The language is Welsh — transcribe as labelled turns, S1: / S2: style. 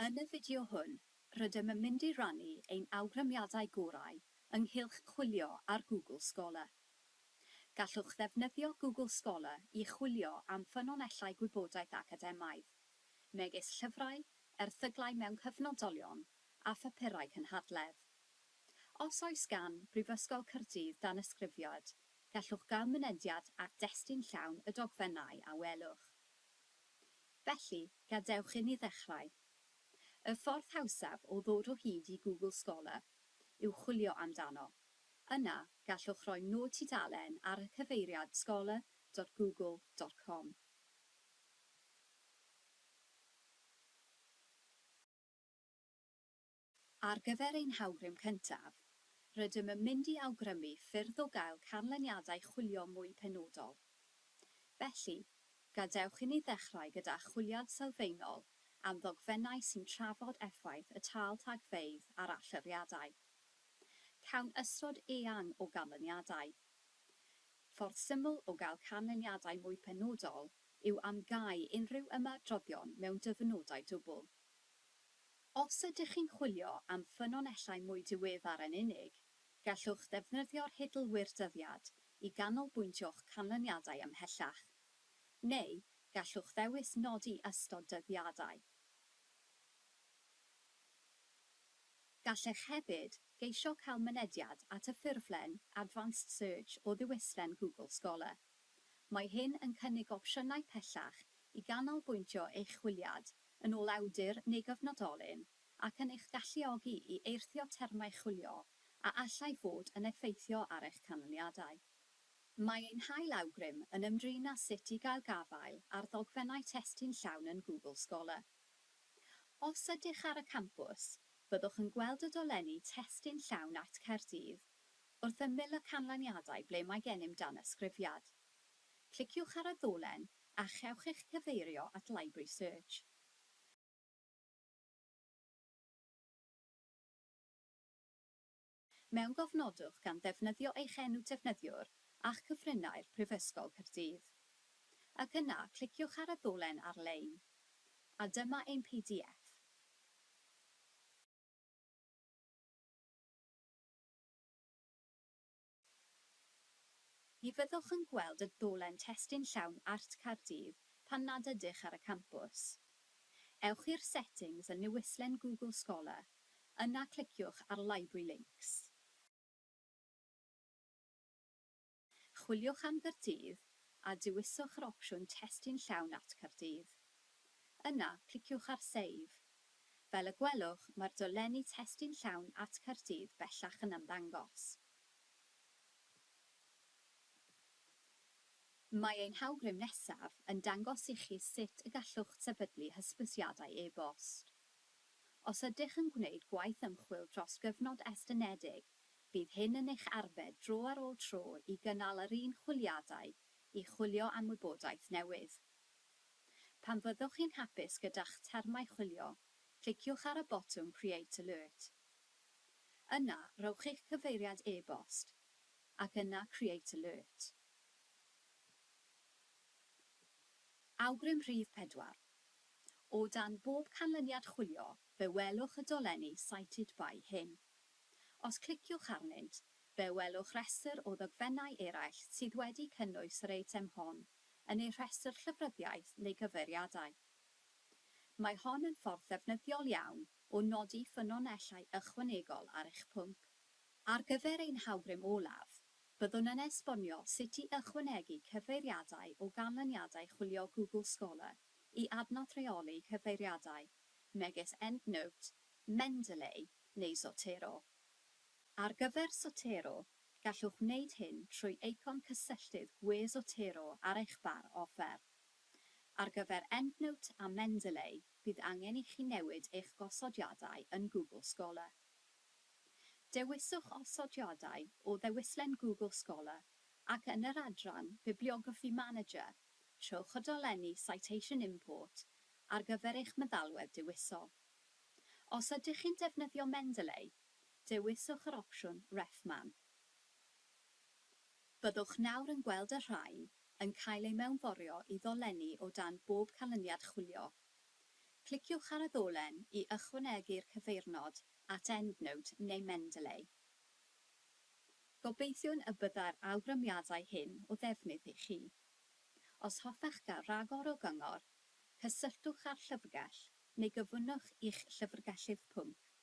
S1: Yn y fideo hwn, rydym yn mynd i rannu ein awgrymiadau gorau ynghylch chwilio ar Google Scholar. Gallwch ddefnyddio Google Scholar i chwilio am ffynonellau gwybodaeth academaidd, megis llyfrau, erthyglau mewn cyfnodolion, a phapurau cynhadledd. Os oes gan Brifysgol Caerdydd danysgrifiad, gallwch gael mynediad at destun llawn y dogfennau a welwch. Felly, gadewch inni ddechrau. Y ffordd hawsaf o ddod o hyd i Google Scholar yw chwilio amdano. Yna, gallwch roi nod tudalen ar y cyfeiriad scholar dot google dot com. Ar gyfer ein hawgrym cyntaf, rydym yn mynd i awgrymu ffyrdd o gael canlyniadau chwilio mwy penodol. Felly, gadewch inni ddechrau gyda chwiliad sylfaenol am ddogfennau sy'n trafod effaith y tâl tagfeydd ar allyriadau. Cawn ystod eang o ganlyniadau. Ffordd syml o gael canlyniadau mwy penodol yw am gau unrhyw ymadroddion mewn dyfynodau dwbl. Os ydych chi'n chwilio am ffynonellau mwy diweddar yn unig, gallwch ddefnyddio'r hidl Wirdyddiad i ganolbwyntio'ch canlyniadau ymhellach. Neu, gallwch ddewis nodi ystod dyddiadau. Gallech hefyd geisio cael mynediad at y ffurflen Advanced Search o ddiwyllian Google Scholar. Mae hyn yn cynnig opsiynau pellach i ganolbwyntio eich chwiliad yn ôl awdur neu gyfnodolyn, ac yn eich galluogi i eirthio termau chwilio a allai fod yn effeithio ar eich canlyniadau. Mae ein hail awgrym yn ymdrin â sut i gael gafael ar ddogfennau testun llawn yn Google Scholar. Os ydych ar y campws, byddwch yn gweld y dolenni Testun Llawn at Caerdydd wrth ymyl y canlyniadau ble mae gennym danysgrifiad. Cliciwch ar y ddolen a chewch eich cyfeirio at Library Search. Mewngofnodwch gan ddefnyddio eich enw defnyddiwr a'ch cyfrinair Prifysgol Caerdydd. Ac yna, cliciwch ar y ddolen ar-lein. A dyma ein pdf. Ni fyddwch yn gweld y dolen testun llawn Art Caerdydd pan nad ydych ar y campws. Ewch i'r Settings yn newislen Google Scholar, yna cliciwch ar Library Links. Chwiliwch am Gaerdydd a dewiswch yr opsiwn Testun Llawn Art Caerdydd. Yna, cliciwch ar Save, Fel y gwelwch, mae'r dolenni testun llawn at Caerdydd bellach yn ymddangos. Mae ein hawgrym nesaf yn dangos i chi sut y gallwch sefydlu hysbysiadau e-bost. Os ydych yn gwneud gwaith ymchwil dros gyfnod estynedig, bydd hyn yn eich arbed dro ar ôl tro i gynnal yr un chwiliadau i chwilio am wybodaeth newydd. Pan fyddwch chi'n hapus gyda'ch termau chwilio, cliciwch ar y botwm Create Alert. Yna, rhowch eich cyfeiriad e-bost, ac yna Create Alert. Awgrym rhif pedwar. O dan bob canlyniad chwilio, fe welwch y dolenni Cited By hyn. Os cliciwch arnynt, fe welwch rhestr o ddogfennau eraill sydd wedi cynnwys yr eitem hon. yn eu rhestr llyfryddiaeth neu gyfeiriadau. Mae hon yn ffordd ddefnyddiol iawn o nodi ffynonellau ychwanegol ar eich pwnc. Ar gyfer ein hawgrym olaf, byddwn yn esbonio sut i ychwanegu cyfeiriadau o ganlyniadau chwilio Google Scholar i adnodd rheoli cyfeiriadau, megis EndNote, Mendeley neu Zotero. Ar gyfer Zotero, Gallwch wneud hyn trwy eicon cysylltydd gwres Otero ar eich bar offer. Ar gyfer EndNote a Mendeley, bydd angen i chi newid eich gosodiadau yn Google Scholar. Dewiswch Osodiadau o ddewislen Google Scholar ac yn yr adran Bibliography Manager, trowch y dolenni Citation Import ar gyfer eich meddalwedd dewisol. Os ydych chi'n defnyddio Mendeley, Dewiswch yr opsiwn Ref Man. Byddwch nawr yn gweld y rhain yn cael eu mewnforio i ddolenni o dan bob canlyniad chwilio. Cliciwch ar y ddolen i ychwanegu'r cyfeirnod at EndNote neu Mendeley. Gobeithiwn y byddai'r awgrymiadau hyn o ddefnydd i chi. Os hoffech gael rhagor o gyngor, cysylltwch â'r Llyfrgell neu gyfynnwch i'ch llyfrgellydd pwnc.